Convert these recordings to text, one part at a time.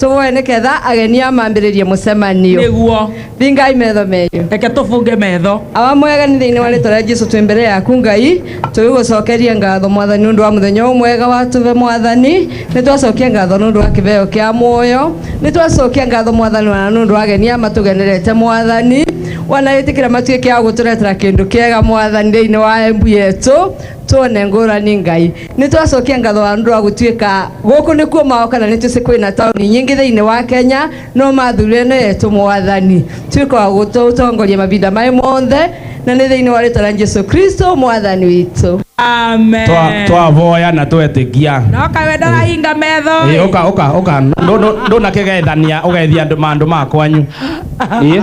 tũvoe nĩ ketha ageni a mambĩrĩrie mũcemanio nĩguo thingai metho menyu reke tũbunge metho awa mwegani thĩinĩ wa rĩtwa rĩa jesu twĩ mbere yaku ngai tũgĩgũcokeria ngatho mwathani nĩ ũndũ wa mũthenya ũyũ mwega watũve mwathani nĩ twacokia ngatho nĩ ũndũ wa kĩveo kĩa muoyo nĩ twacokia ngatho mwathani wana nĩ ũndũ wa ageni aya matũgenerete mwathani wana ĩtĩkĩra matuĩke a gũtũretera kĩndũ kĩega mwathani thĩinĩ wa embu yetũ tuone ngũrani ngai Nĩ twacokia ngatho wa ũndũ wa gũtuĩka gũkũ nĩ kuo mao kana nĩ tũcĩ kwĩna taũni nyingĩ thĩinĩ wa Kenya no mathurire nĩ etũ mwathani tuĩka wa gũtũtongoria mavinda maĩ monthe na nĩ thĩinĩ wa rĩtwa rĩa Jesu Kristo mwathani witũ. Amen. Twa- twavoya na twetĩkia Noka we ndarahinga metho. Ĩĩ, ũka ũka ũka Ndũ- ndũ- ndũnakĩgethania ũgeithia andũ mandũ makwanyu Ĩĩ.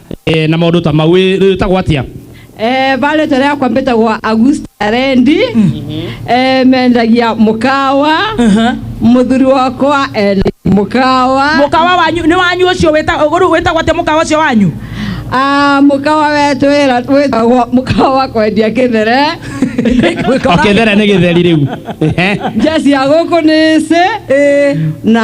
eh, na maundu ta mau Ĩ- rĩu ĩtagwo atia Eh, pale tore yakwa mbĩtagwo Augusta Rendi eh, mendagia mũkawa mũthuri wakwa ena mũkawa mukawa wanyu ni wanyu ucio wita uguru wita gwate mukawa ucio wanyu Ah, mũkawa wetu wĩra- wĩtagwo mũkawa wa kwendia kĩthere okethere nĩ gĩtheri rĩu Ehe. njeci ya gũkũ nĩcĩ na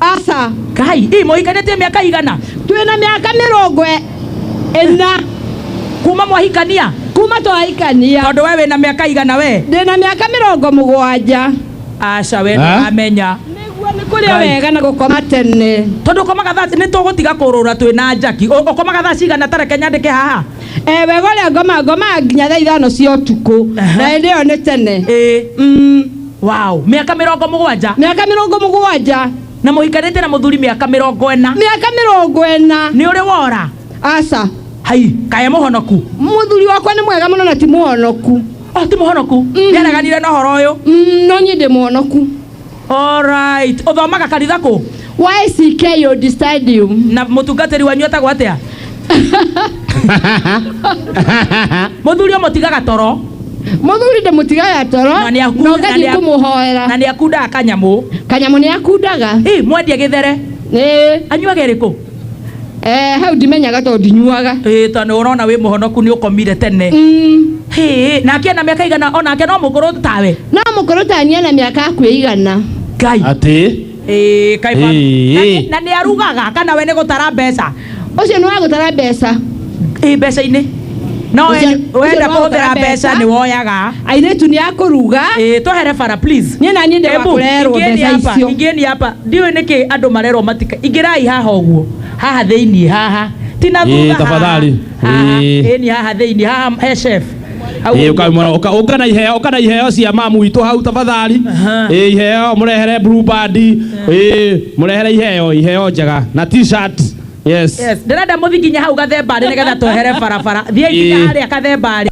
aca kai ĩ mũhikanĩtie mĩaka igana twĩ na mĩaka mĩrongo ĩ- ĩna kuma mwahikania kuma twahikania tondũ we wĩ na mĩaka igana we ndĩ na mĩaka mĩrongo mũgwanja aca we Ha? ndũramenya nĩguo nĩ kũrĩa Ngai. wega na gũkoma tene tondũ ũkomaga thaa nĩ tũgũtiga kũrũra twĩ na njaki Ũ- ũkomaga thaa cigana tareke nyandĩke haha Eh, wega ũrĩa ngoma ngomaga nginya thaa ithano cia ũtukũ Aha. na hĩndĩ ĩyo nĩ tene ĩ Mm. wow mĩaka mĩrongo mũgwanja mĩaka mĩrongo mũgwanja na mũhikanĩte na mũthuri mĩaka mĩrongo ĩna mĩaka mĩrongo ĩna nĩ ũrĩ wora aca hai kae mũhonoku mũthuri wakwa nĩ mwega mũno na ti mũhonoku o ti mũhonoku nĩareganire na ũhoro ũyũ Mm, no niĩ ndĩ mũhonoku Alright. Ũthomaga kanitha kũ? YCKO Stadium. na mutungatiri wanyu etagwo atia muthuri uyu mutigaga toro Mũthuri ndĩmũtigaga toro Na nĩaku- na na ũgathiĩ nĩaku- kũmũhoera. na ni akundaga kanyamu Kanyamũ nĩ akundaga. ii mwendia githere Ĩĩ, anyuage riku eh, hau ndimenyaga tondũ ndinyuaga. ii to ni urona wi muhonoku ni ukomire tene Mm, Hĩĩ, nake na miaka igana onake no mukuru tawe No mũkũrũ tania na mĩaka akuĩigana. ngai atä Ĩĩ, kaĩ ba- Ĩĩ. Na- na nä arugaga kana we nä gå tara mbeca ũcio nĩ wa gũtara mbeca ä mbeca-inä no Ũcio- we- ũcio wenda nĩ wa kå hå thä gũtara ra mbeca mbeca. nä woyaga airĩtu nĩ akũruga ä twehere bara please niĩ na niĩ ndĩ wa Embu, kũrerwo ingĩeni mbeca hapa, icio ingĩeni hapa ndiå nä kä andå marerwo matika ingärai haha å guo haha thä iniä haha tina Ĩĩ, thutha haha. tafadhali. Haha, Ĩĩ. ĩni haha thä iniä haha he chef Hau Ĩĩ, ũka- mwana- ũka- ũka na iheo ũka na iheo cia mamu witũ hau tafadhali Aha. Ĩĩ, iheo mũrehere blue band Ĩĩ, mũrehere iheo iheo njega na t-shirt yes Yes, ndĩrenda mũthi nginya hau gathembarĩ nĩgetha twehere barabara thiĩ nginya Ĩĩ. harĩa kathembarĩ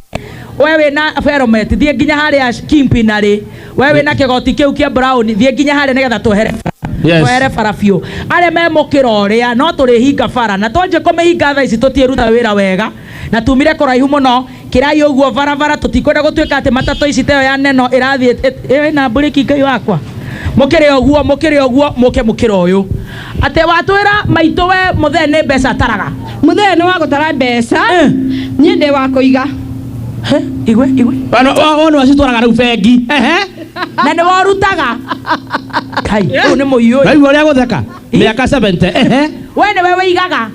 we wĩ na feromet thiĩ nginya harĩa kimpinarĩ we wĩ na kĩgoti kĩu kĩa brown thiĩ nginya harĩa nĩgetha twehere bara. Yes. twehere bara biũ arĩa memũkĩra ũrĩa no tũrĩhinga bara na twanjie kũmĩhinga thaa ici tũtiĩruta wĩra wega na tumire kũraihu mũno kĩrai ũguo barabara tũtikwenda gũtuĩka atĩ matatũ ici teyo ya neno ĩrathiĩ ĩrĩ na mburĩki ngai wakwa mũkĩrĩ ũguo mũkĩrĩ ũguo mũke mũkĩra ũyũ atĩ watwĩra maitũ we mũthee nĩ mbeca ataraga mũthee nĩ wa gũtara mbeca Eh. niĩ ndĩ wa kũiga He, igwe igwe wona wacitwaraga rĩu bengi Ehe. na nĩ worutaga kai ũyũ nĩ mũiyũ naigua ũrĩa gũtheka mĩaka 70 ehe we nĩwe wĩigaga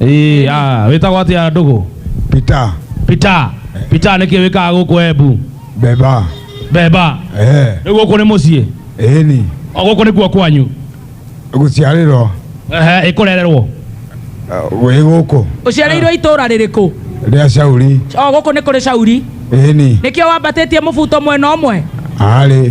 Ĩĩ, ah, wĩtagwo atĩa ndũgũ Peter peter peter nĩkĩ wĩkaga gũkũ embu Beba beba eh rĩu gũkũ nĩ mũciĩ eni o gũkũ nĩkuo kwanyu guciarĩrwo Ehe, ĩkũrererwo wĩ gũkũ uciarĩirwo itũra rĩrĩkũ rĩa Shauri o gũkũ nĩ kũrĩ cauri eni nĩkĩo wambatĩtie mũbuto mwena ũmwe arĩ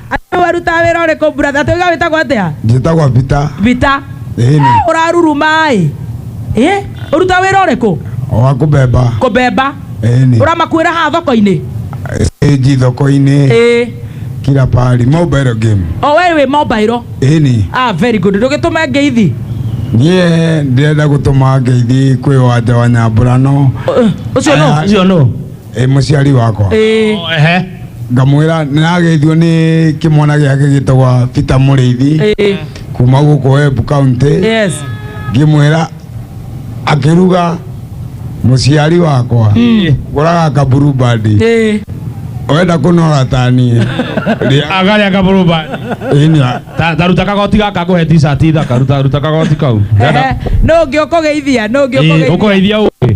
Andũ warutaga wĩra ũrĩkũ brother? Tũiga wĩtagwo atĩa? njĩtagwa bita Vita. ĩni Eh, Ũraruruma-ĩ. Eh, ũrutaga wĩra ũrĩkũ? wa kũbemba Kũbemba. ĩni Ũramakuĩra haha thoko-inĩ? stage thoko-inĩ Ĩĩ. kila pahali mobile game O we wĩ mobile. ĩni Ah, very good. Ndũgĩtũme ngeithi. niĩ ndĩrenda gũtũma ngeithi kwĩ wanja wa nyambũrano Ũ- Ũcio no. Aya. Ũcio no. ĩ mũciari wakwa Eh, Oh, ehe. ngamwĩra nĩrageithio nĩ kĩmwana gĩake gĩtagwa peter mũrĩithi eh, kuma gũkũ wembu kauntä yes ngĩmwĩra akĩruga mũciari wakwa gũraga kaburu bandi Eh, wenda kũnora taniĩ rĩa Angalia kaburu bandi. ĩnya Ta- ta ruta kagoti gaka ngũhe t-shirt ithaka ruta ruta kagoti kau eh, no ngĩ ũkũgeithia no ngĩ ũkũgeithia ũkũgeithia ũngĩ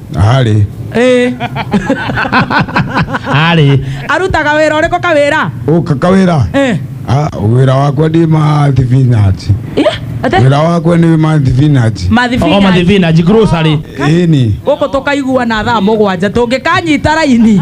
Arĩ. Eh, arĩ arutaga wĩra ũrĩkũ kawĩra Ũka kawĩra. Eh, Ah, Wĩra wakwa ndĩ ma thibinaci. yeah, ate? Wĩra wakwa nĩ ma thibinaci. o Mathibinaci. mathivinaji grocery Ĩni. gũkũ tũkaiguana thaa mũgwanja tũngĩkanyita raini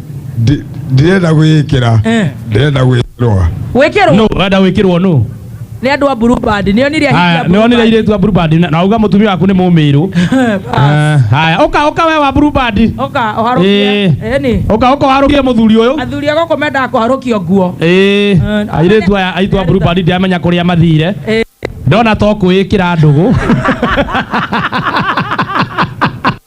Ndi- ndirenda gwĩkĩra Eh. ndirenda gwĩkĩrwa wĩkĩrwo no wenda wĩkĩrwo no nĩ andũ a blue band nĩ onire ahiki a haya blue nĩwonire band. irĩtu a blue band na- na uga mũtumia waku nĩ mũmĩrũ Eh, haya ũka ũka we wa blue band oka oharũkie Eh. eni ũka ũka warũkie mũthuri ũyũ athuri a gũkũ mendaga kũharũkio nguo Eh, airĩtu aya aitũ a blue band ndiamenya kũrĩa mathire Eh. ndona to kwĩkĩra ndũgũ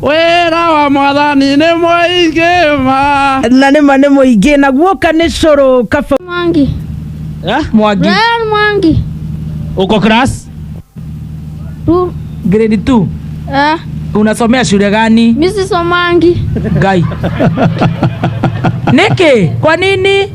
wĩra wa mwathani nĩ mũingĩ ma na nĩ ma nĩ mũingĩ na guoka nĩ cũrũ kaba Mwangi. Eh? mwangi Brian Mwangi. uko class Tu. grade 2 Eh, unasomea shule gani Mrs. Omangi. ngai niki kwa nini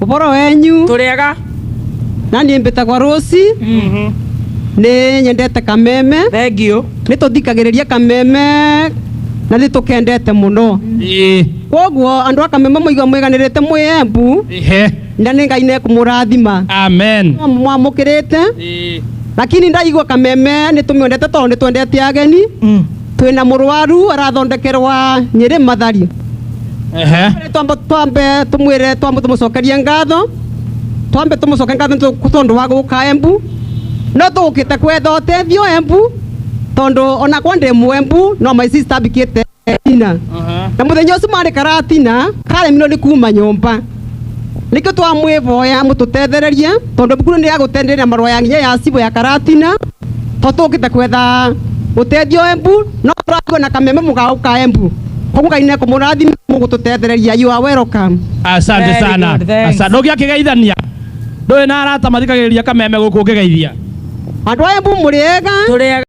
Ũboro wenyu tũrĩega na niĩ mbĩtagwa Rũci nĩ nyendete kameme thengio nĩ tũthikagĩrĩria kameme na nĩ tũkendete mũno Ĩĩ. kwoguo andũ a kameme mũigua mwĩganĩrĩte mwĩ embu Ĩhe. na nĩ ngai nekũmũrathima amen mwamũkĩrĩte Ĩĩ. lakini ndaigua kameme nĩ tũmĩendete tondũ nĩ twendete ageni twina murwaru arathondekerwa nyiri mathari Ehe. twambe twambe tumwire twambe tumucokerie ngatho twambe tumucoke ngatho nĩ tondu wa guka embu no tugukite kwetha utethio embu tondu ona kwa ndi mwembu no my sister bikite tina na muthenya ucio mari karatina karemirwo ni kuma nyumba nikio twamwivoya mututethererie tondu bukuru ni agutenderia marwa ya nginya ya cibo ya karatina to tũkĩte kwetha ũteithio embu no tũratigwo na kameme mũgaũ ka embu koguo ngai nekũmũrathima mũgũtũtethereria you are welcome asante Very sana good, thanks. asante ndogia kigeithania ndoe na arata mathikagiriria kameme guku ngigeithia andũ a embu mũrĩega tũrĩaga